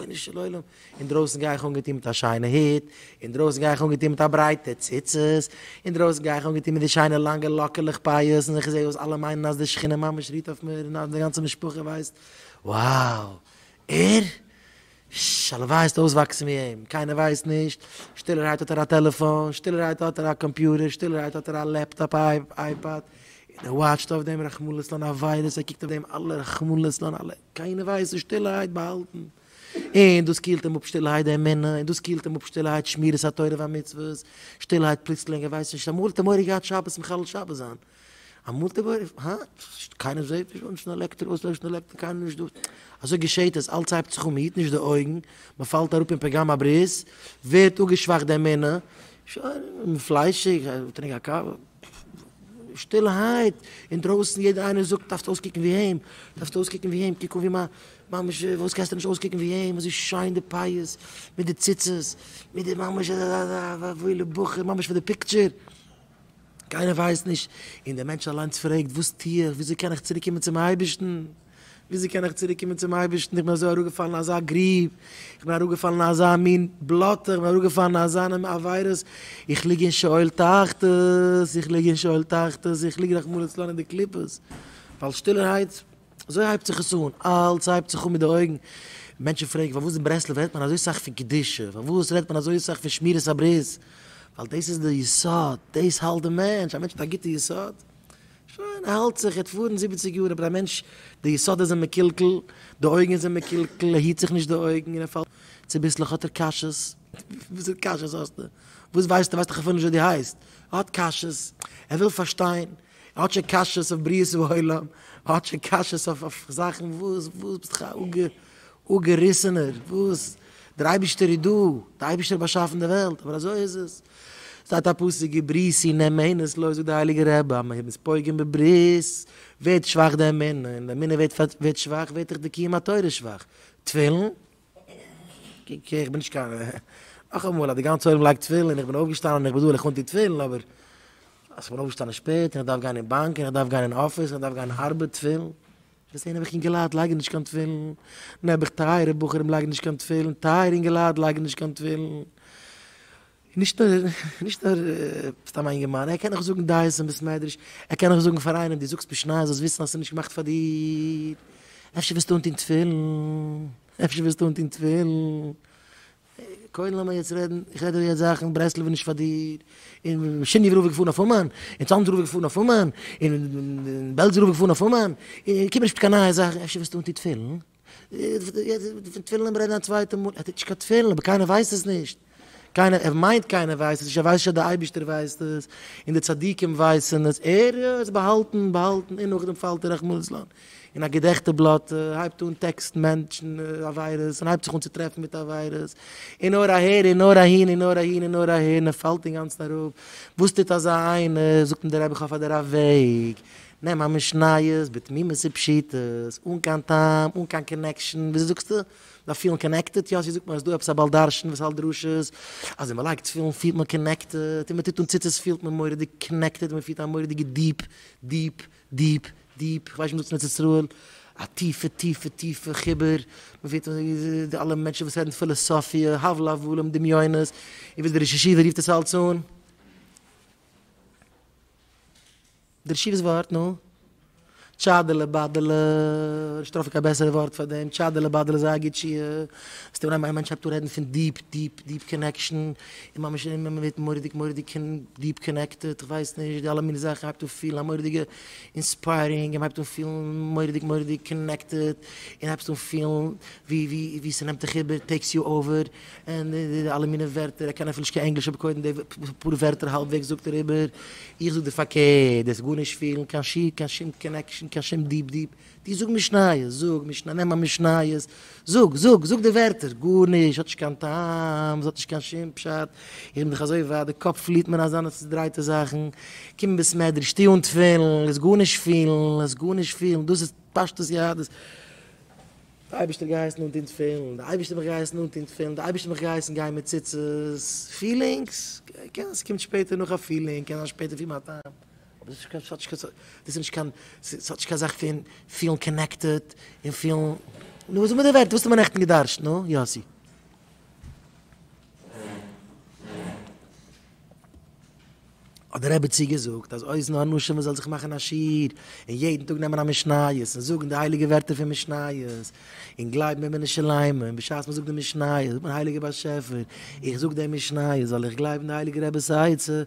רבונו של עולם, אינדרויסן גיי איך אנגעטון מיט א שיינע היט, אינדרויסן גיי איך אנגעטון מיט א ברייטע ציצית, אינדרויסן גיי איך אנגעטון מיט די שיינע לאנגע לאקעלעך פאות, און איך זע אויס אלע מיינען אז די שכינה ממש רוהט אויף מיר און אז די גאנצע משפחה ווייסט, wow! ער? ש, הלוואי הייסט אויסוואקסן ווי אים, קיינער ווייסט נישט, שטילערהייט האט ער א טעלעפאן, שטילערהייט האט ער א קאמפיוטער, שטילערהייט האט ער א לעפטאפ אייפאד, און ער וואטשט אויף דעם רחמנא לצלן א וויירוס, ער קוקט אויף דעם אלע רחמנא לצלן אלע. קיינער ווייסט נישט שטילערהייט באהאלטן און דאס קילט אים אפ שטילערהייט די אמונה און דאס קילט אים אפ שטילערהייט שמירת התורה והמצוות שטילערהייט פלוצלינג ער ווייסט נישט אמאל האט ער מורא געהאט שבת מחלל שבת זיין אמאל האט ער מורא הא קיינער זעהט נישט אנשטעלן עלעקטער אויסלעשן עלעקטער קיינער נישט דא אזוי געשעהט עס אלץ הייבט זיך אן מען היט נישט די אויגן מען פאלט אראפ אין פגם הברית ווערט אפגעשוואכט די אמונה שוין פליישיג טרינק א קאווע שטילערהייט אינדרויסן יעדער איינער זאגט דארפסט אויסקוקן ווי אים, דארפסט אויסקוקן ווי אים, קוק אן ווי מ. ממש וואס קענסטו נישט אויסקוקן ווי אים, אזוי שיין די פאות, מיט די ציצית, מיט די ממש א וואוילע בחור, ממש פאר די פיקטשער, קיינער ווייסט נישט, און דער מענטש אליינס פרעגט וואס טו איך, וויאזוי קען איך צוריק קומען צום אייבערשטן. וויאזוי קען איך צוריק קומען צום אייבערשטן, איך בין אזוי אראפגעפאלן אין אזא גרוב, איך בין אראפגעפאלן אין אזא מין בלאטע, איך בין אראפגעפאלן אין אזאנע עבירות, איך ליג אין שאול תחתית, איך ליג אין שאול תחתית, איך ליג רחמנא לצלן אין די קליפות, ווייל שטילערהייט, אזוי הייבט זיך עס אן, אלץ הייבט זיך אן מיט די אויגן, מענטשן פרעגן פארוואס אין ברסלב רעדט מען אזוי סאך פון קדושה, פארוואס רעדט מען אזוי סאך פון שמירת הברית, ווייל דאס איז די יסוד, דאס האלט די מענטש, א מענטש מיט א גוטע יסוד, שוין, ער האלט זיך, ער האט פארן זיבעציג יאר, אבער א מענטש, די יסודות זענען מקולקל, די אויגן זענען מקולקל, ער היט זיך נישט די אויגן און ער פאלט, צוביסלעך האט ער קשיות, וויאזוי קשיות האסטו? וואס ווייסטו? ווייסט דאך אפילו נישט ווער דו הייסט, ער האט קשיות, ער וויל פארשטיין, ער האט שוין קשיות אויף בריאת העולם, ער האט שוין קשיות אויף זאכן, וואס, וואס, ביסט דאך א או געריסענער, וואס? דער אייבישטער איז דא, דער אייבישטער האט באשאפן די וועלט, אבער אזוי איז עס. שטייט א פסוק געבריס און אמונות לויז זאגט דער הייליגער רבי אז מען איז פוגם בברית ווערט שוואך די אמונה, און די אמונה ווערט שוואך ווערט אויך די קיום התורה שוואך. תפילין? אקעי איך בין נישט קיין נאכאמאל אז די גאנצע עולם לייגט תפילין און איך בין אויפגעשטאנען און איך בין דא און איך אנטו תפילין אבער אז איך בין אויפגעשטאנען שפעט און איך דארף גיין אין באנק און איך דארף גיין אין אפיס און איך דארף גיין ארבעט תפילין? וועסט זען נעבעך אינגעלייט לייגן נישט קיין תפילין, נעבעך טייערע בחורים לייגן נישט קיין תפילין, טייערע אינגעלייט לייגן נישט קיין תפילין, נישט נאר סתם א אינגערמאן, ער קען נאך זאגן דעות אין בית מדרש, ער קען נאך זאגן פאר איינעם דו זאגסט משניות זאלסט וויסן אז עס איז נישט געמאכט פאר דיר, אפשר וועסטו אנטון תפילין, אפשר וועסטו אנטון תפילין. קודם לאמיר יעצט רעדן, איך רעד דיר יעצט זאכן, ברסלב איז נישט פאר דיר, און שיניוו רב איז געפארן אויף אומאן, און צאנז רב איז געפארן אויף אומאן, און בעלז רב איז געפארן אויף אומאן, און קום נישט מיט קיין נייע זאכן, אפשר וועסטו אנטון תפילין? פון תפילין לאמיר רעדן א צווייטע מאל, ער טוט נישט קיין תפילין, אבער קיינער ווייסט עס נישט, קיינער, ער מיינט קיינער ווייסט עס נישט, ער ווייסט נישט אז דער אייבערשטער ווייסט עס, און די צדיקים ווייסן עס, ער האט עס באהאלטן און באהאלטן און נאכדעם פאלט ער רחמנא ליצלן, און א געדעכטע בלאט הייבט אן טעקסטן מענטשן עבירות און הייבט זיך אן צו טרעפן מיט עבירות, און נאר אהער און נאר אהין און נאר אהין און נאר אהער און ער פאלט אינגאנצן אראפ, וואס טוט אזא איינער, זאגט אים דער רבי איך האף אז דער רב וועג, נעם א משניות בתמימות ופשיטות, אן קיין טעם, אן קיין קאנעקשאן, וויאזוי זאגסטו? זיי פילן קאנעקטעד? יא, אזוי זאגט מען אז דא עפעס א בעל דרשן וואס האלט דרשות, אז ווען מען לייגט תפילין פילט מען קאנעקטעד, און מען טוט אן ציצית פילט מען מורא'דיג קאנעקטעד, מען פילט א מורא'דיגע דיעפ, דיעפ, דיעפ, דיעפ, איך ווייס נישט וואס דאס מיינט ארץ ישראל, א טיפע טיפע טיפע חיבור, מען פירט אזוי ווי די אלע מענטשן וואס רעדן פילאסאפיע, הבל הבלים, דמיונות, און ווי דער ראש ישיבה רופט עס אלץ אן. דער ישיבה'ס ווארט, נו? טשאדעלע באדעלע, נישט טרעפן קיין בעסערע ווארט פאר דעם, טשאדעלע באדעלע איז זייער גוט שיעור, וואס טוט מען אז איין מענטש הייבט אן רעדן פון דיעפ דיעפ דיעפ קאנעקשאן, און ממש און מען ווערט מורא'דיג מורא'דיג דיעפ קאנעקטעד, כ'ווייס נישט, די אלע מינע זאכן מ'הייבט אן פילן א מורא'דיגע אינספיירינג, און מ'הייבט אן פילן מורא'דיג מורא'דיג קאנעקטעד, און הייבסט אן פילן ווי ווי ווי ס'נעמט דיך איבער, טעיקס יו אווער, און די די אלע מינע ווערטער, ער קען אפילו נישט קיין ענגליש אבער קודם די פאר ווערטער האלב וועגס זאגט ער איבער, איך זאג דיר פארקערט, דאס גארנישט פילן קיין שום קיין שום קאנעקשאן קיין שום דיעפ דיעפ. דו זאג משניות, זאג משנה, נעם א משניות, זאג, זאג, זאג די ווערטער, גארנישט, ס'האט נישט קיין טעם, ס'האט נישט קיין שום פשט, איך בין דאך אזוי ווייט, די קאפ פליעט מיר אזאנע צודרייטע זאכן, קום אין בית מדרש, טו אן תפילין, לאזט גארנישט פילן, לאזט גארנישט פילן, דאס איז פשטות יהדות, די אייבערשטער האט געהייסן אנטון תפילין, די אייבערשטער האט מיך געהייסן אנטון תפילין, די אייבערשטער האט מיך געהייסן גיין מיט ציצית, פילינגס, קען זיין ס'קומט שפעטער נאך א פילינג, קען זיין שפעטער פון מיין טעם. אבער דאס איז נישט קיין שאטשקע, דאס איז נישט קיין שאטשקע א זאך פון פילן קאנעקטעד און פילן, נו זאג מיר די ווערטער, וואס האט מען נעכטן געדארשט, נו יאסי? האט די רעבעצי געזאגט אז אויס נאר נשים מען זאל זיך מאכן א שיעור און יעדן טאג נעמען א משניות און זאגן די הייליגע ווערטער פון משניות, און גלייבן אין מנין שלמה, און בשעת מען זאגט די משניות זאגט מען הייליגער באשעפער, איך זאג די משניות ווייל איך גלייב אין די הייליגע רב'ס עצה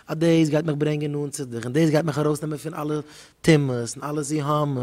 אז דאס גייט מיך ברענגען נאנט צו דיך, און דאס גייט מיך ארויסנעמען פון אלע טומאות און אלע זיהומים.